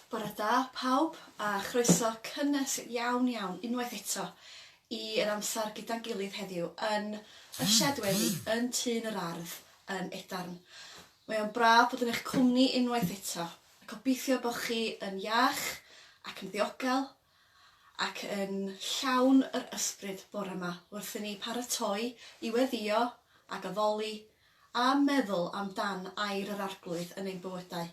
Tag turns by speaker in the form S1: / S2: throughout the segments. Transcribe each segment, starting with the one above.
S1: Bore da pawb a chroeso cynnes iawn iawn unwaith eto i yr amser gyda'n gilydd heddiw yn y sied wely yn Tŷ yn yr Ardd yn Edarn. Mae o'n braf bod yn eich cwmni unwaith eto ac obeithio bod chi yn iach ac yn ddiogel ac yn llawn yr ysbryd bore 'ma wrth i ni paratoi i weddio ac addoli a meddwl am dan air yr Arglwydd yn ein bywydau.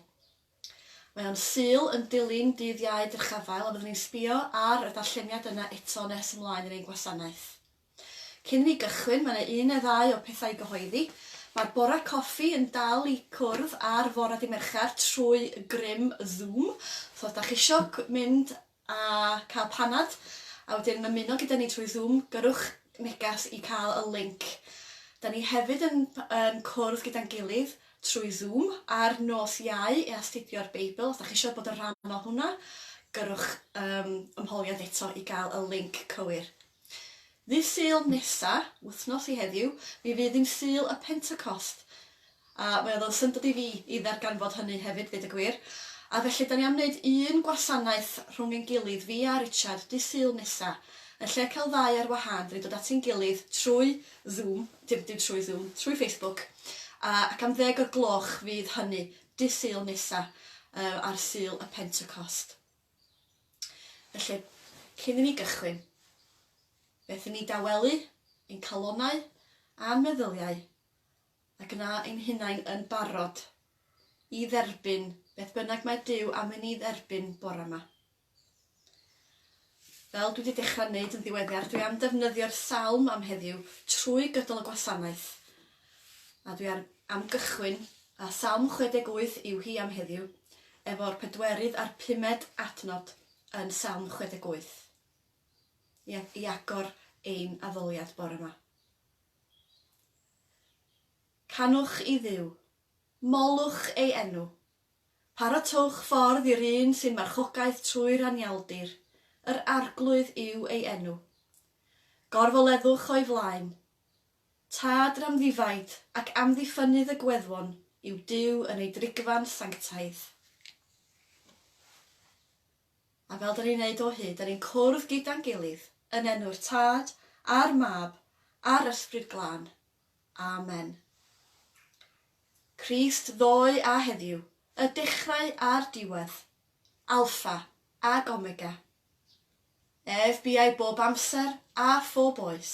S1: Mae o'n Sul yn dilyn dydd Iau dyrchafael a fyddwn ni'n sbio ar y darlleniad yna eto nes ymlaen yn ein gwasanaeth. Cyn i ni gychwyn, mae yna un neu ddau o pethau i gyhoeddi. Mae'r Bore Coffi yn dal i cwrdd ar fore Dydd Mercher trwy grym Zoom, so os da chi isio mynd a cael panad a wedyn ymuno gyda ni trwy Zoom, gyrrwch neges i cael y linc. Da ni hefyd yn yn cwrdd gyda'n gilydd trwy Zoom ar nos Iau i astudio'r Beibl. Os da chi eisiau bod yn rhan o hwnna, gyrrwch um, ymholiad eto i gael y linc cywir. Ddydd Sul nesa, wythnos i heddiw, mi fydd hi'n Sul y Pentecost, a mi oedd o'n syndod i fi i ddarganfod hynny hefyd, ddeud y gwir. A felly, 'dan ni am wneud un gwasanaeth rhwng ein gilydd, fi a Richard, Dydd Sul nesa. Yn lle cael ddau ar wahân, 'dan ni'n dod at ein gilydd trwy Zoom, dim dim trwy Zoom, trwy Facebook, a ac am ddeg o'r gloch fydd hynny, Dydd Sul nesa, yy ar Sul y Pentecost. Felly, cyn i ni gychwyn, beth i ni dawelu, ein calonnau a'n meddyliau, a gwna ein hunain yn barod i dderbyn beth bynnag mae Duw am i ni dderbyn bore yma. Fel dwi wedi dechrau wneud yn ddiweddar, dwi am ddefnyddio'r salm am heddiw trwy gydol y gwasanaeth, A dwi ar am gychwyn, a Salm 68 yw hi am heddiw, efo'r pedwerydd a'r pumed adnod yn Salm 68, i i agor ein addoliad bore 'ma. Canwch i Dduw. Molwch ei enw. Paratowch ffordd i'r un sy'n marchogaeth trwy'r anialdir, yr Arglwydd yw ei enw. Gorfoleddwch o'i flaen. Tad yr amddifaid ac amddiffynnydd y gweddwon yw Duw yn ei drigfan sanctaidd. A fel 'dan ni'n neud o hyd, 'dan ni'n cwrdd gyda'n gilydd yn enw'r Tad, a'r Mab, a'r Ysbryd Glân. Amen. Crist ddoe a heddiw, y dechrau a'r diwedd, Alpha ac Omega, Ef buai bob amser a phob oes.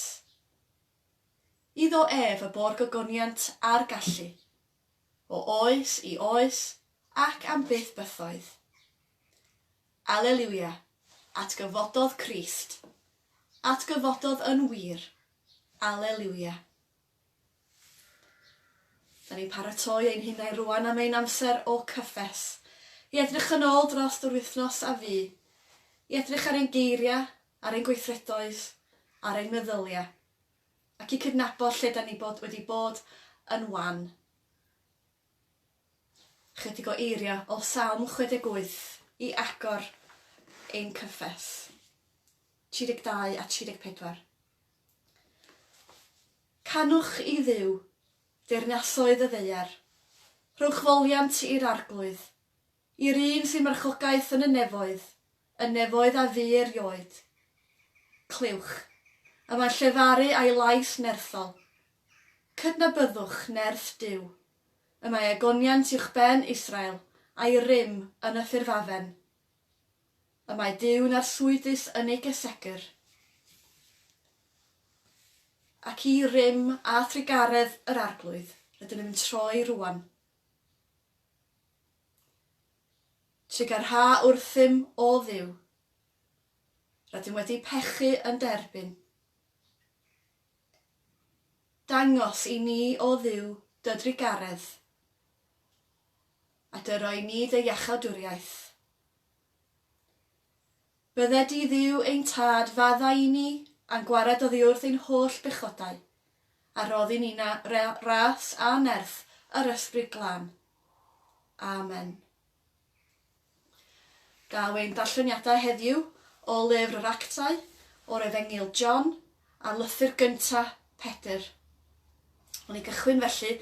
S1: Iddo ef y bo'r gogoniant a'r gallu, o oes i oes ac am byth bythoedd. Aleliwia, atgyfododd Crist, atgyfododd yn wir, Aleliwia. Da ni'n paratoi ein hunain rŵan am ein amser o cyffes, i edrych yn ôl drost yr wythnos a fu, i edrych ar ein geiriau, ar ein gweithredoedd, ar ein meddyliau, ac i cydnabod lle da ni bod wedi bod yn wan. Ychydig o eiriau o Salm 68 i agor ein cyffes. 32 a 34. Canwch i Dduw, deyrnasoedd y ddaear, rhowch foliant i'r arglwydd, i'r un sy'n marchogaeth yn y nefoedd, y nefoedd a fu erioed. Clywch, y mae'n llefaru a'i lais nerthol. Cydnabyddwch nerth Duw, y mae egoniant uwchben Israel, a'i rym yn y ffurfafen. y mae Duw'n arswydus yn ei gesegr, ac i rym a thrugaredd yr Arglwydd rydyn nhw'n troi rŵan. Trugarha wrthym, O Dduw, rydym wedi pechu yn dy erbyn. Dangos i ni, O Dduw, dy drugaredd, a Dy roi ni Dy iachawdwriaeth. Bydde Di Dduw ein Tad faddau i ni a'n gwared oddiwrth ein holl bechodau, a roddi ni na re ras a nerth yr Ysbryd Glân. Amen. Daw ein darlleniadau heddiw o lyfr yr Actau o'r Efengyl John a'r lythyr gyntaf Pedr. Wn i gychwyn felly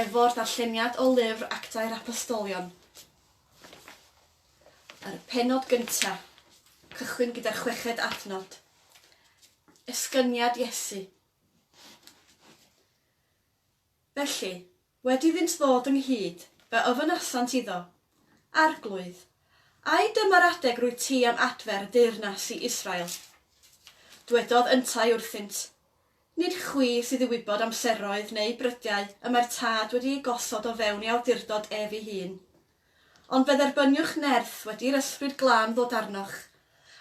S1: efo'r darlleniad o lyfr Actau'r Apostolion. Yr penod gyntaf, cychwyn gyda'r chweched adnod. Esgyniad Iesu. Felly, Wedi iddynt ddod ynghyd, fe ofynasant iddo, Arglwydd, ai dyma'r adeg rwyt ti am adfer y deyrnas i Israel? Dwedodd yntau wrthynt, Nid chwi sydd i wybod amseroedd neu brydiau y mae'r Tad wedi eu gosod o fewn ei awdurdod ef ei hun. Ond fe dderbyniwch nerth wedi i'r Ysbryd Glân ddod arnoch,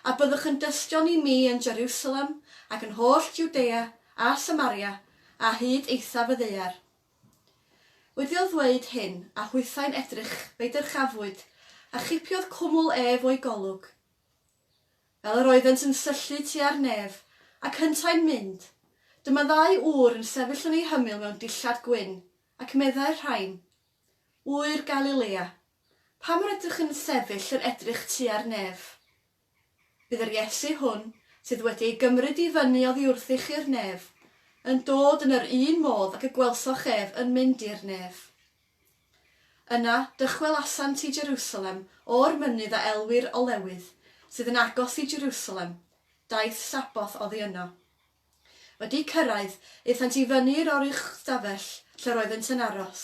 S1: a byddwch yn dystion i mi yn Jeriwsalem ac yn holl Jwdea a Samaria a hyd eithaf y ddaear. Wedi'l ddweud hyn, a hwythau'n edrych, fe'i dyrchafwyd, a chipiodd cwmwl ef o'i golwg. Fel yr oeddent yn syllu tua'r nef, ac hyntau'n mynd, dyma ddau ŵr yn sefyll yn ei hymyl mewn dillad gwyn, ac meddai'r rhain, Ŵyr Galilea, pam yr ydych yn sefyll yn edrych tua'r nef? Bydd yr Iesu hwn, sydd wedi ei gymryd i fyny oddiwrthy chi'r nef, yn dod yn yr un modd ag y gwelsoch ef yn mynd i'r nef. Yna, dychwelasant i Jerusalem o'r mynydd a elwir Olewydd, sydd yn agos i Jerusalem, daeth Sabboth oddi yno. Wedi cyrraedd, aethant i fyny i'r oruchstafell lle roeddent yn aros,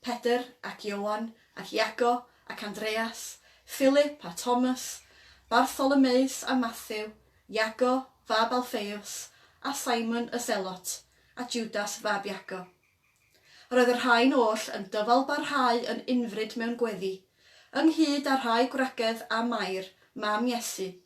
S1: Pedr ac Ioan ac Iago ac Andreas, Philip a Thomas, Bartholomeus a Mathew, Iago, fab Alffeus, a Simon y Selot, a Judas fab Iago. Yr oedd y rhain oll yn dyfalbarhau yn unfryd mewn gweddi, ynghyd â rhai gwragedd a Mair, mam Iesu,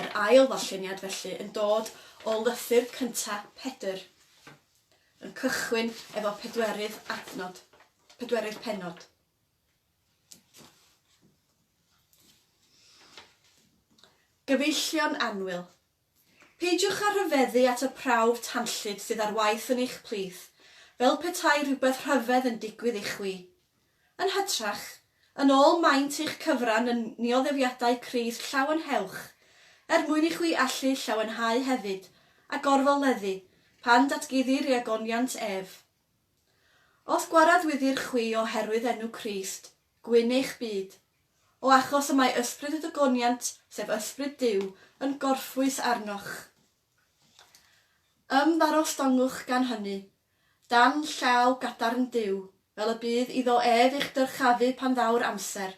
S1: Yr ail ddarlleniad felly yn dod o lythyr cynta Pedr, yn cychwyn efo pedwerydd adnod, pedwerydd pennod. Gyfeillion anwyl, Peidiwch â rhyfeddu at y prawf tanllyd sydd ar waith yn eich plith, fel petai rhywbeth rhyfedd yn digwydd i chwi. Yn hytrach, yn ôl maint eich cyfran yn nioddefiadau Crist llawenhewch, er mwyn i chwi allu llawenhau hefyd, a gorfoleddu, pan datguddir i agoniant ef. Os gwaradwyddir chwi oherwydd enw Crist, Gwyn eich byd. O achos y mae ysbryd y dygoniant, sef ysbryd Duw, yn gorffwys arnoch. Ymddangostongwch gan hynny, dan llaw gadarn Duw, fel y bydd iddo ef eich dyrchafu pan ddaw'r amser.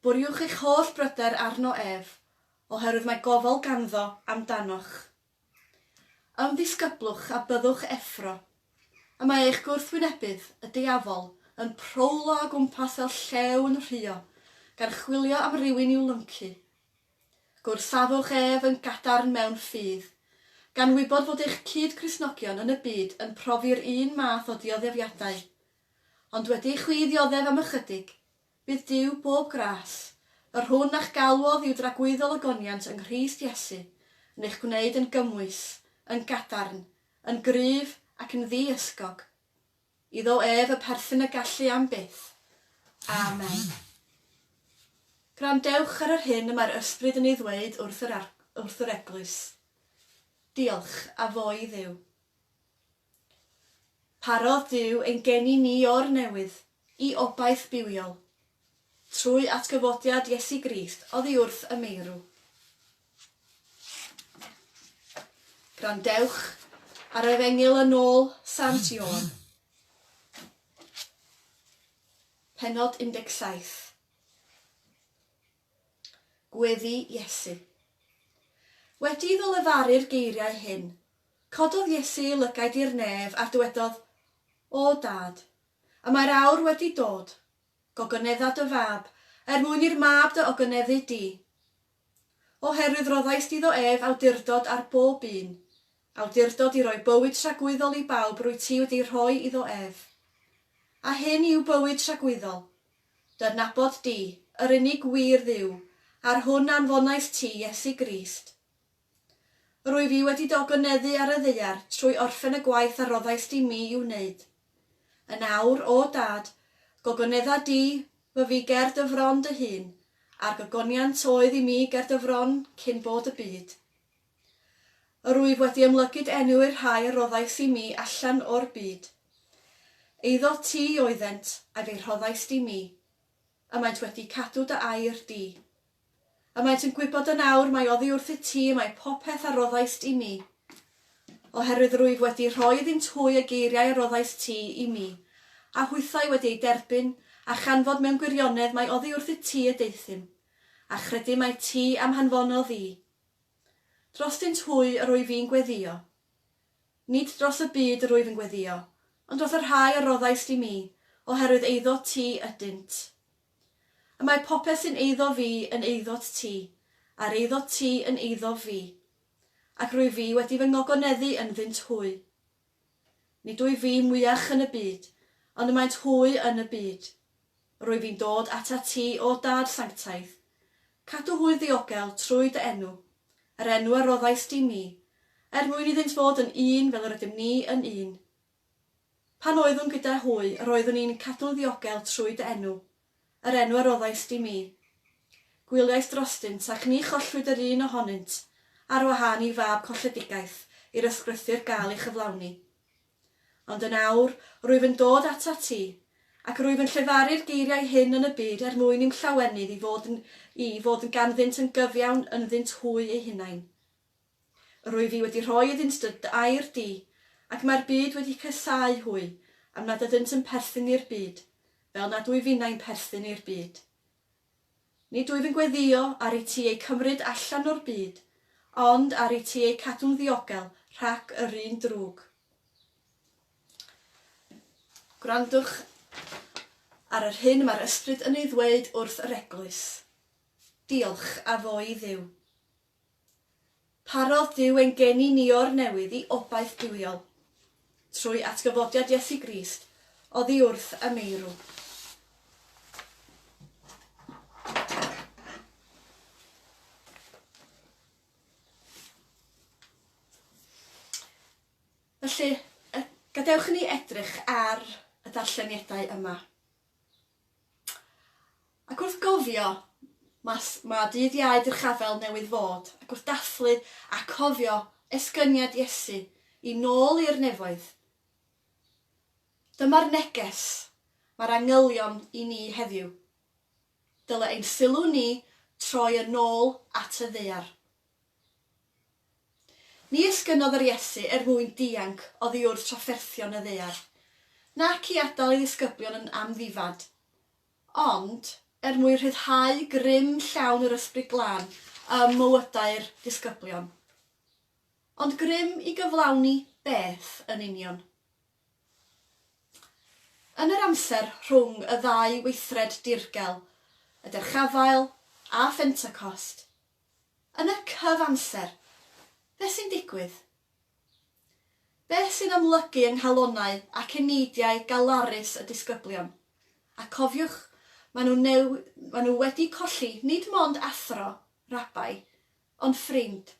S1: Bwriwch eich holl bryder arno ef, oherwydd mae gofal ganddo am danoch. Ymddisgyblwch a byddwch effro. Y mae eich gwrthwynebydd, y Diafol, yn prowlo o gwmpas fel llew yn rhuo, gan chwilio am rywun i'w lyncu. Gwrthsafwch ef yn gadarn mewn ffydd. Gan wybod fod eich cyd-Gristnogion yn y byd yn profi'r un math o ddioddeffiadau. Ond wedi i chwi ddioddef am ychydig, Bydd Duw bob gras, yr hwn a'ch galwodd i'w dragwyddol ogoniant yng Nghrist Iesu, yn eich gwneud yn gymwys, yn gadarn, yn gryf, ac yn ddi-ysgog. Iddo ef y perthyn y gallu am byth. Amen. Gwrandewch ar yr hyn y mae'r Ysbryd yn ei ddweud wrth yr, wrth yr Eglwys. Diolch, a fo i Dduw. Parodd Duw ein geni ni o'r newydd i obaith bywiol. Trwy atgyfodiad Iesu Grist oddi wrth y meirw. Gwrandewch ar Efengyl yn ôl Sant Ioan, pennod 17. Gweddi Iesu. Wedi iddo lefaru'r geiriau hyn, Cododd Iesu ei lygaid i'r nef a dywedodd, O Dad, y mae'r awr wedi dod, gogonedda dy fab, er mwyn i'r mab dy ogoneddu di. Oherwydd roddais di ddo ef awdurdod ar bob un, awdurdod i roi bywyd tragwyddol i bawb rwyt ti wedi rhoi iddo ef. A hyn yw bywyd tragwyddol, dy adnabod di, yr unig wir Dduw, a'r hwn anfonais ti, Iesu Grist. Rwyf i wedi dogynneddu ar y ddaear trwy orffen y gwaith a roddais di mi i'w wneud. Yn awr, O Dad, gogonedda di fy fi ger dy fron dy hun, a'r gogoniant oedd i mi ger dy fron cyn bod y byd. Rwyf wedi ymlygyd enw i'r rhai a roddais i mi allan o'r byd. Eiddo ti oeddent, a fe'i rhoddais di mi. A maent wedi cadw dy air di. A maent yn gwybod yn awr mai oddi wrthyt ti y mae popeth a roddaist i mi, oherwydd rwyf wedi rhoi iddynt hwy y geiriau a roddaist ti i mi, a hwythau wedi eu derbyn, a chanfod mewn gwirionedd mai oddi wrthyt ti y deuthum, a chredu mai ti a'm hanfonodd i. Drostynt hwy yr wyf i'n gweddïo. Nid dros y byd yr wyf yn gweddïo, ond dros y rhai a roddais di mi, oherwydd eiddo ti ydynt. Y mae popeth sy'n eiddo fi yn eiddot ti, a'r eiddot ti yn eiddof fi, ac rwyf fi wedi fy ngogoneddu ynddynt hwy. Nid wyf fi mwyach yn y byd, ond y maent hwy yn y byd. Rwyf i'n dod atat ti, O Dad sanctaidd, Cadw hwy ddiogel trwy dy enw, yr enw a roddaist di mi, er mwyn iddynt fod yn un fel yr ydym ni yn un. Pan oeddwn gyda hwy, yr oeddwn i'n cadw'n ddiogel trwy dy enw, yr enw a roddaist di mi. Gwyliais drostynt, ac ni chollwyd yr un ohonynt, ar wahân i fab colledigaeth, i'r ysgrythur gael ei chyflawni. Ond yn awr, rwyf yn dod atat ti, ac rwyf yn llefaru'r geiriau hyn yn y byd er mwyn i'm llawenydd i fod yn i fod yn ganddynt yn gyfiawn ynddynt hwy eu hunain. Yr wyf i wedi rhoi iddynt dy air di, ac mae'r byd wedi casáu hwy, am nad ydynt yn perthyn i'r byd, fel nad wyf innau'n perthyn i'r byd. Nid wyf yn gweddïo ar i ti eu cymryd allan o'r byd, ond ar i ti eu cadw'n ddiogel rhac yr un drwg. Gwrandwch ar yr hyn y mae'r Ysbryd yn ei ddweud wrth yr Eglwys. Diolch a fo i Dduw. Parodd Duw ein geni ni o'r newydd i obaith duwiol. Trwy atgyfodiad Iesu Grist oddi wrth y meirw. Felly, gadewch i ni edrych ar y darlleniadau yma. Ac wrth gofio, mas, mae dydd Iau drchafel newydd fod, ac wrth dathlu a cofio esgyniad Iesu i nôl i'r nefoedd, dyma'r neges mae'r angylion i ni heddiw, dyle ein sylw ni troi yn ôl at y ddaear. Ni esgynnodd yr Iesu er mwyn dianc oddi wrth trafferthion y ddaear, nac i adael ei ddisgyblion yn amddifad. Ond, er mwyn rhyddhau grym llawn yr Ysbryd Glân ym mywydau'r disgyblion. Ond grym i gyflawni beth yn union? Yn yr amser rhwng y ddau weithred dirgel, y Derchafael a Phentecost, yn y cyf-amser, beth sy'n digwydd? Beth sy'n amlygu yng nghalonnau ac eneidiau galarus y disgyblion? A cofiwch, maen nhw neu maen nhw wedi colli nid mond athro, rabai, ond ffrind,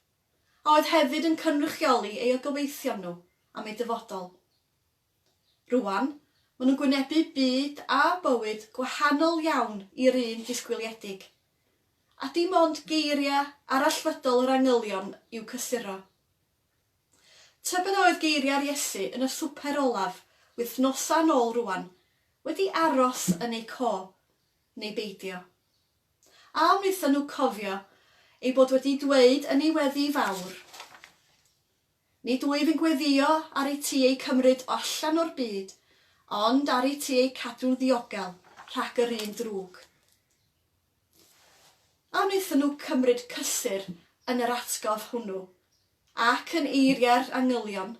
S1: a oedd hefyd yn cynrychioli eu gobeithion nhw am eu dyfodol. Rŵan, maen nhw'n gwynebu byd a bywyd gwahanol iawn i'r un disgwyliedig, a dim ond geiriau arallfydol yr angylion i'w cysuro. Tybed oedd geiriau'r Iesu yn y swper olaf, wythnosau yn ôl rŵan, wedi aros yn eu co, neu beidio? A wnaethon nhw cofio ei bod wedi dweud yn ei weddi fawr, Nid wyf yn gweddïo ar i ti eu cymryd o allan o'r byd, ond ar i ti eu cadw'n ddiogel rhag yr un drwg? A wnaethon nhw cymryd cysur yn yr atgof hwnnw, ac yn eiriau'r angylion?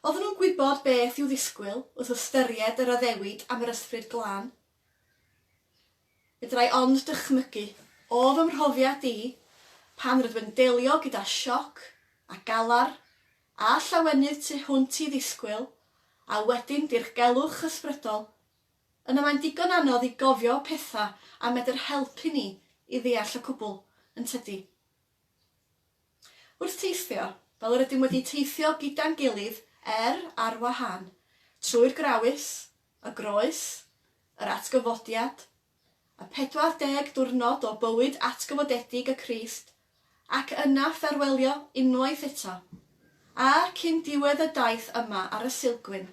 S1: Oedden nhw'n gwybod beth i'w ddisgwyl wrth ystyried yr addewid am yr Ysbryd Glân? Fedrai ond dychmygu, o fy mhrofiad i, pan rydw yn delio gyda sioc, a galar, a llawenydd tu hwnt i ddisgwyl, a wedyn dirgelwch ysbrydol, Yna mae'n digon anodd i gofio pethau a medr helpu ni i ddeall y cwbl, yn tydi? Wrth teithio, fel yr ydym wedi teithio gyda'n gilydd er ar wahân, trwy'r Grawys, y Groes, yr Atgyfodiad, y 40 diwrnod o bywyd atgyfodedig y Crist, ac yna fferwelio unwaith eto, a cyn diwedd y daith yma ar y Sulgwyn,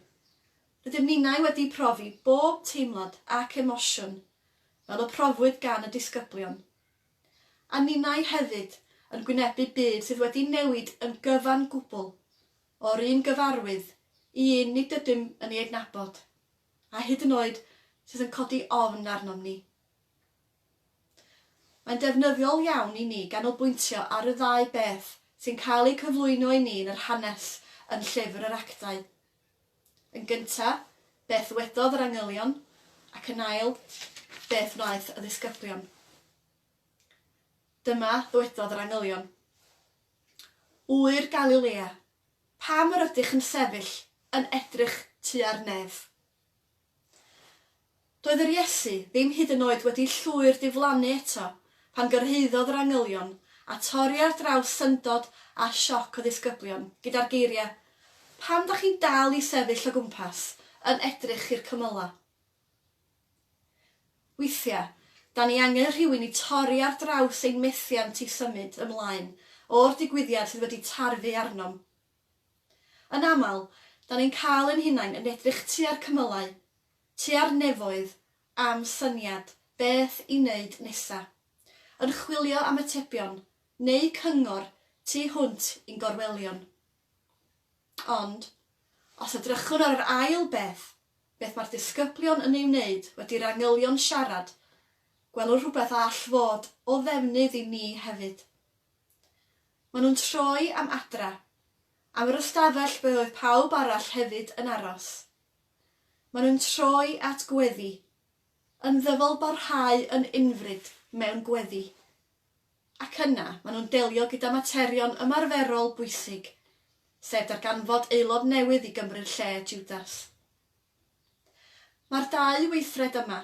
S1: Rydym ninnau wedi profi bob teimlad ac emosiwn fel y profwyd gan y disgyblion, a ninnau hefyd yn gwynebu byd sydd wedi newid yn gyfan gwbl o'r un gyfarwydd i un nid ydym yn ei adnabod, a hyd yn oed sydd yn codi ofn arnom ni. Mae'n defnyddiol iawn i ni ganolbwyntio ar y ddau beth sy'n cael eu cyflwyno i ni yn yr hanes yn Llyfr yr Actau. Yn gyntaf, beth wedodd yr angylion, ac yn ail, beth wnaeth y ddisgyblion. Dyma ddywedodd yr angylion. Ŵyr Galilea, pam yr ydych yn sefyll yn edrych tua'r nef? Doedd yr Iesu ddim hyd yn oed wedi llwyr diflannu eto pan gyrhaeddodd yr angylion a torri ar draws syndod a sioc y ddisgyblion gyda'r geiriau, Pam dach chi'n dal i sefyll o gwmpas yn edrych i'r cymylau? Weithiau, da ni angen rhywun i torri ar draws ein methiant i symud ymlaen o'r digwyddiad sydd wedi tarfu arnom. Yn aml, da ni'n cael ein hunain yn edrych tua'r cymylau, tua'r nefoedd am syniad beth i wneud nesa', yn chwilio am atebion neu cyngor tu hwnt i'n gorwelion. Ond, os edrychwn ar yr ail beth, beth mae'r disgyblion yn ei wneud wedi'r angylion siarad, gwelwn rhywbeth a all fod o ddefnydd i ni hefyd. Maen nhw'n troi am adra. Am yr ystafell ble oedd pawb arall hefyd yn aros. Maen nhw'n troi at gweddi. Yn ddyfalbarhau yn unfryd mewn gweddi. Ac yna, maen nhw'n delio gyda materion ymarferol bwysig, sef darganfod aelod newydd i Gymru'r lle, Jwdas. Mae'r dau weithred yma,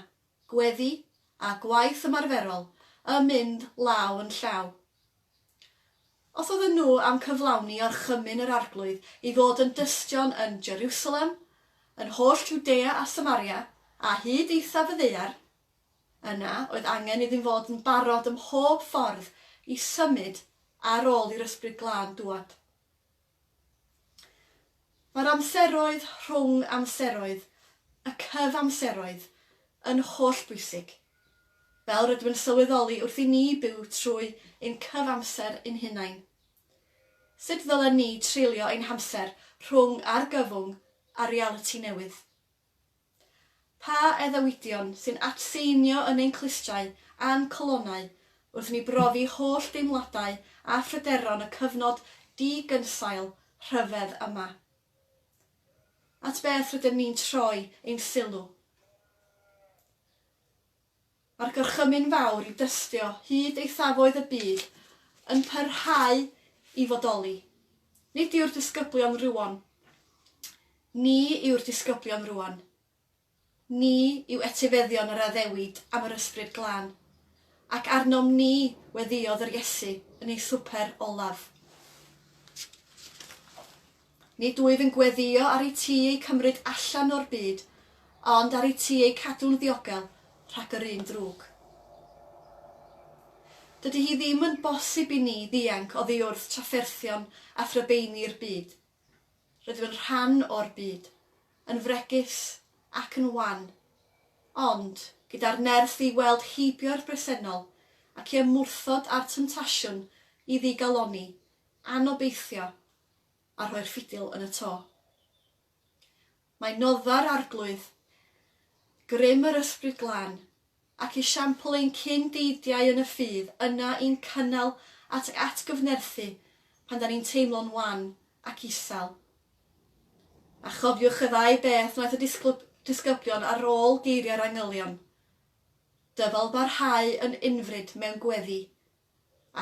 S1: gweddi a gwaith ymarferol, yn mynd law yn llaw. Os oedden nhw am cyflawni orchymyn yr Arglwydd i fod yn dystion yn Jerusalem, yn holl Jwdea a Samaria, a hyd eithaf y ddaear, yna oedd angen iddyn fod yn barod ym mhob ffordd i symud ar ôl i'r Ysbryd Glân dŵad. Mae'r amseroedd rhwng amseroedd, y cyfamseroedd, yn hollbwysig, fel rydym yn sylweddoli wrth i ni byw trwy ein cyfamser ein hunain. Sut ddylen ni treulio ein hamser rhwng argyfwng a realiti newydd? Pa addewidion sy'n atseinio yn ein clustiau a'n calonnau wrth i ni brofi holl deimladau a phryderon y cyfnod di-gynsail rhyfedd yma? At beth rydym ni'n troi ein sylw? Mae'r gorchymyn fawr i dystio hyd eithafoedd y byd yn parhau i fodoli. Nid yw'r disgyblion rywon. Ni yw'r disgyblion rwan. Ni yw etifeddion yr addewid am yr Ysbryd Glân. Ac arnom ni weddïodd yr Iesu yn ei swper olaf. Nid wyf yn gweddïo ar IT eu cymryd allan o'r byd, ond ar IT eu cadw'n ddiogel rhag yr un drwg. Dydy hi ddim yn bosib i ni ddianc oddi wrth trafferthion a thrybeini'r byd. Rydym yn rhan o'r byd, yn fregus ac yn wan, ond gyda'r nerth i weld heibio'r bresennol ac i ymwrthod â'r temtasiwn i ddigalonni, anobeithio a rhoi'r ffidil yn y to. Mae noddfa'r Arglwydd, grym yr Ysbryd Glân, ac esiampl ein cyn deidiau yn y ffydd yna i'n cynnal at ac atgyfnerthu pan da ni'n teimlo'n wan ac isel. A chofiwch y ddau beth wnaeth y disgyblion ar ôl geiriau'r angylion, Dyfal barhau yn unfryd mewn gweddi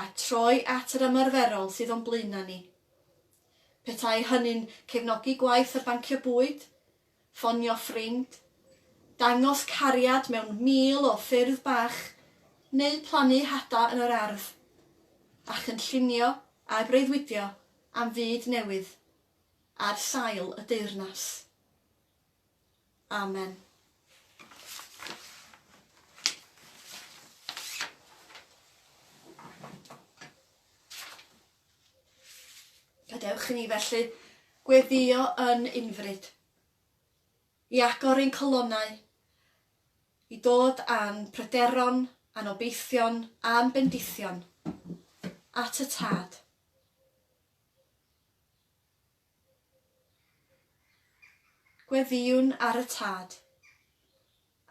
S1: a troi at yr ymarferol sydd o'n blaenau ni. Petai hynny'n cefnogi gwaith y bancio bwyd, ffonio ffrind, dangos cariad mewn mil o ffyrdd bach, neu plannu hada yn yr ardd, a chynllunio a breuddwydio am fyd newydd ar sail y deyrnas. Amen. Gadewch i ni felly gweddio yn unfryd, i agor ein colonnau, i dod â'n pryderon, a'n obeithion, a'n bendithion at y Tad. Gweddïwn ar y Tad.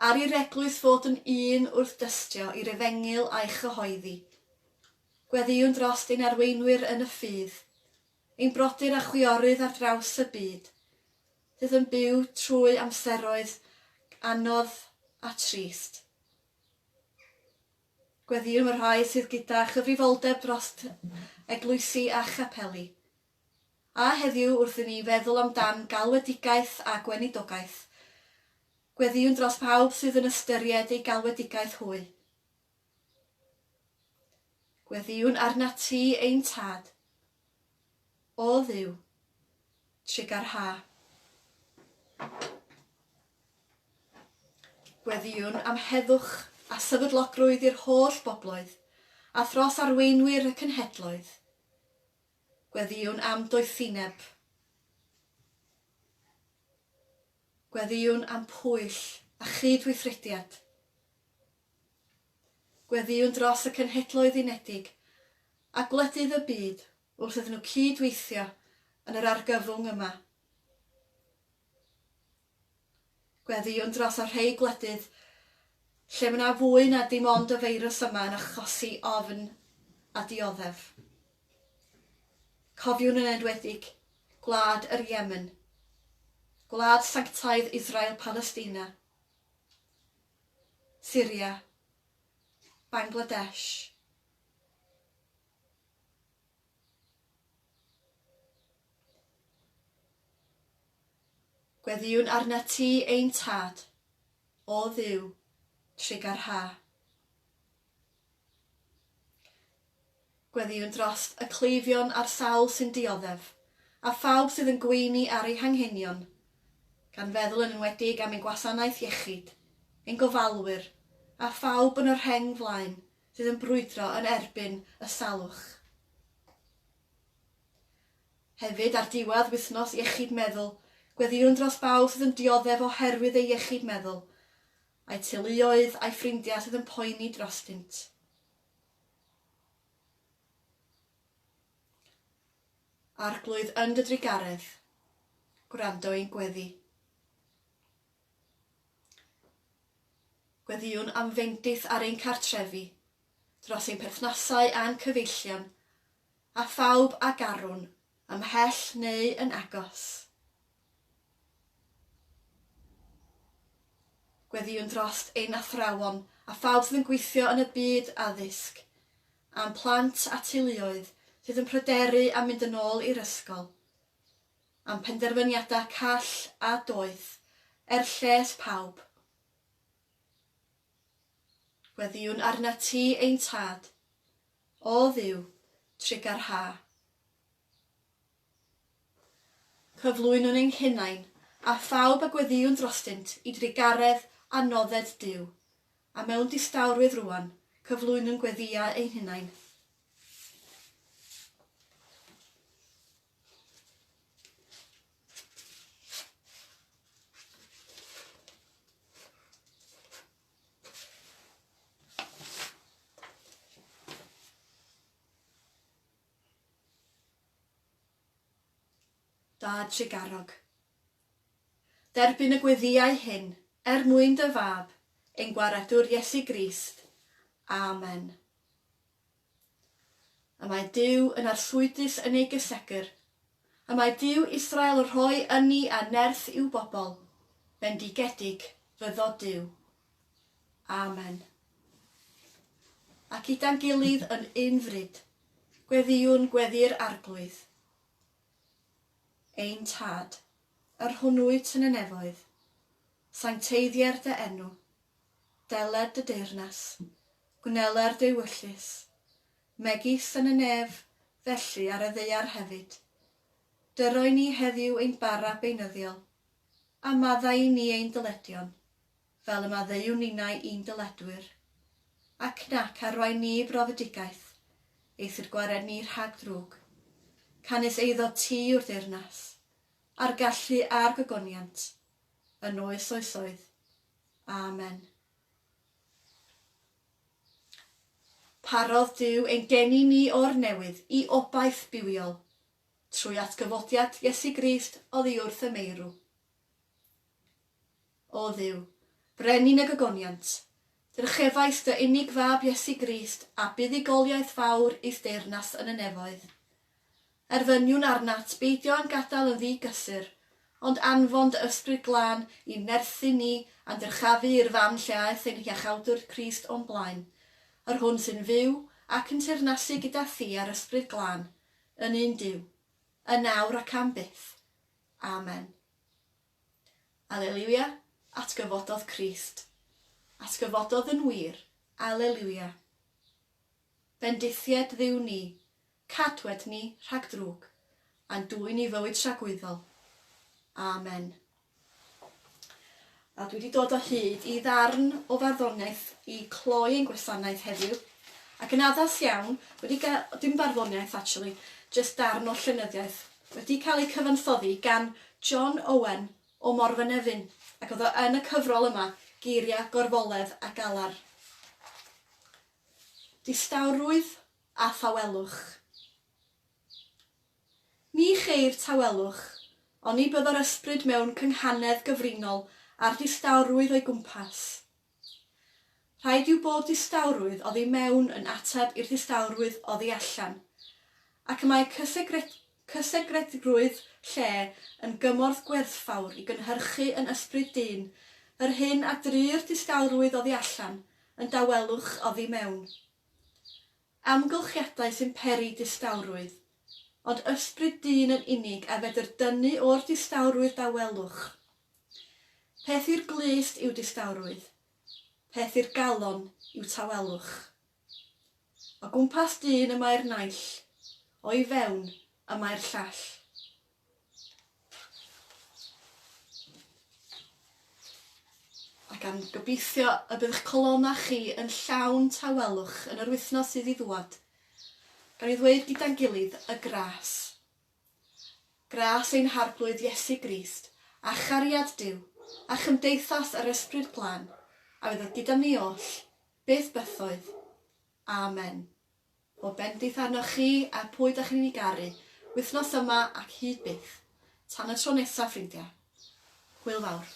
S1: Ar i'r Eglwys fod yn un wrth dystio i'r Efengyl a'i chyhoeddi. Gweddïwn drost ein arweinwyr yn y ffydd, ein brodyr a chwiorydd ar draws y byd, sydd yn byw trwy amseroedd anodd a trist. Gweddïwn am y rhai sydd gyda chyfrifoldeb drost eglwysi a chapeli, A heddiw wrth i ni feddwl amdan galwedigaeth a gweinidogaeth, gweddïwn dros bawb sydd yn ystyried ei galwedigaeth hwy. Gweddïwn arnat ti, ein Tad. O Dduw, trugarhaau. Gweddïwn am heddwch a sefydlogrwydd i'r holl bobloedd, a thros arweinwyr y cenhedloedd. Gweddïwn am doethineb. Gweddïwn am pwyll a chyd-weithrediad. Gweddïwn dros y Cenhedloedd Unedig a gwledydd y byd wrth iddyn nhw cyd-weithio yn yr argyfwng yma. Gweddïwn dros y rhei gwledydd lle mae 'na fwy na dim ond y feirws yma yn achosi ofn a dioddef. Cofiwn yn enwedig gwlad yr Yemen, gwlad sanctaidd Israel Palestina, Syria, Bangladesh, Gweddïwn arnat ti, ein Tad, o Dduw, trigâr ha. Gweddïwn drost y cleifion a'r sawl sy'n dioddef, a phawb sydd yn gweini ar eu hanghenion, gan feddwl yn enwedig am ein gwasanaeth iechyd, ein gofalwyr, a phawb yn y rheng flaen fydd yn brwydro yn erbyn y salwch. Hefyd, ar diwedd Wythnos Iechyd Meddwl, gweddïwn dros bawb sydd yn dioddef oherwydd ei iechyd meddwl, a'i teuluoedd a'i ffrindiau sydd yn poeni drostynt. Arglwydd yn dy drugaredd, gwrando i'n gweddi. Gweddïwn am fendith ar ein cartrefi, dros ein perthnasau a'n cyfeillion, a phawb a garwn, ymhell neu yn agos. Gweddïwn dros ein athrawon a phawb sydd yn gweithio yn y byd addysg, a'n plant a teuluoedd sydd yn pryderu am mynd yn ôl i'r ysgol. am penderfyniadau call a doeth er lles pawb. Gweddïwn arnat ti, ein Tad, O Dduw, trigâr ha. Cyflwynwn ein hunain, a phawb a gweddïwn drostynt, i drugaredd a nodded Duw, a mewn distawrwydd rŵan, cyflwynwn gweddïau ein hunain. Da Tregarog. Derbyn y gweddïau hyn, er mwyn dy fab, ein Gwaredwr Iesu Grist. Amen. Y mae Duw yn arswydus yn ei gysegr. Y mae Duw Israel rhoi ynni a nerth i'w bobl, bendigedig fyddo Duw. Amen. Ac gyda'n gilydd yn un fryd, gweddiwn gweddi'r Arglwydd. Ein Tad, yr hwn wyt yn y nefoedd, sancteiddier dy enw, deled dy deyrnas, Gwneler dewyllys, megis yn y nef, felly ar y ddaear hefyd. Dyroi ni heddiw ein bara beunyddiol, a maddau i ni ein dyledion, fel y maddeuwn ninnau i'n dyledwyr, ac nac arwain ni i brofedigaeth, eithr gwared ni rhag ddrwg. Canys eiddo ti yw'r deyrnas, a'r gallu a'r gogoniant, yn oes oesoedd. Amen. Parodd Duw ein geni ni o'r newydd i obaith bywiol, trwy atgyfodiad Iesu Grist oddi wrth y meirw. O Dduw, Brenin y gogoniant, drychefais dy unig Fab Iesu Grist a buddugoliaeth fawr i'th deyrnas yn y nefoedd, Erfyniwn arnat beidio â'n gadael yn ddi-gysur, ond anfon dy Ysbryd Glân i nerthu ni a'n dyrchafu i'r fan lle aeth ein Hiachawdwr Crist o'n blaen, yr Hwn sy'n fyw ac yn teyrnasu gyda Thi a'r Ysbryd Glân, yn un Duw, yn nawr ac am byth. Amen. Aleliwia, atgyfododd Crist. Atgyfododd yn wir. Aleliwia. Bendithied Dduw ni, Cadwet ni rhag drwg, a'n dwyn i fywyd tragwyddol. Amen. A dwi wedi dod o hyd i ddarn o farddoniaeth i cloi ein gwasanaeth heddiw, ac yn addas iawn, wedi ga-, dim barddoniaeth actually, jyst darn o llenyddiaeth, wedi cael ei cyfansoddi gan John Owen o Morfynefin, ac oedd o yn y cyfrol yma, Geiria, Gorfoledd a Galar. Distawrwydd a thawelwch. Ni cheir tawelwch, oni bydd yr ysbryd mewn cynghanedd gyfrinol â'r distawrwydd o'i gwmpas. Rhaid yw bod distawrwydd oddi mewn yn ateb i'r ddistawrwydd oddi allan, ac y mae cysegredgrwydd lle yn gymorth gwerthfawr i gynhyrchu yn ysbryd dyn yr hyn a dry'r distawrwydd oddi allan yn dawelwch oddi mewn. Amgylchiadau sy'n peri distawrwydd, ond ysbryd dyn yn unig a fedr dynnu o'r distawrwydd dawelwch. Peth i'r glust yw distawrwydd, peth i'r galon yw tawelwch. O gwmpas dyn y mae'r naill, o'i fewn y mae'r llall. Ac am gobeithio y bydd eich colonnau chi yn llawn tawelwch yn yr wythnos sydd i ddŵad. Gawn ni ddweud gyda'n gilydd, Y Gras. Gras ein Harglwydd Iesu Grist, a chariad Duw, a chymdeithas yr Ysbryd Glân, a fydd oedd gyda'm ni oll, beth bythoedd? Amen. O bendith arnoch chi a phwy dach chi'n ei garu, wythnos yma ac hyd byth. Tan y tro nesaf, ffrindiau. Hwyl fawr.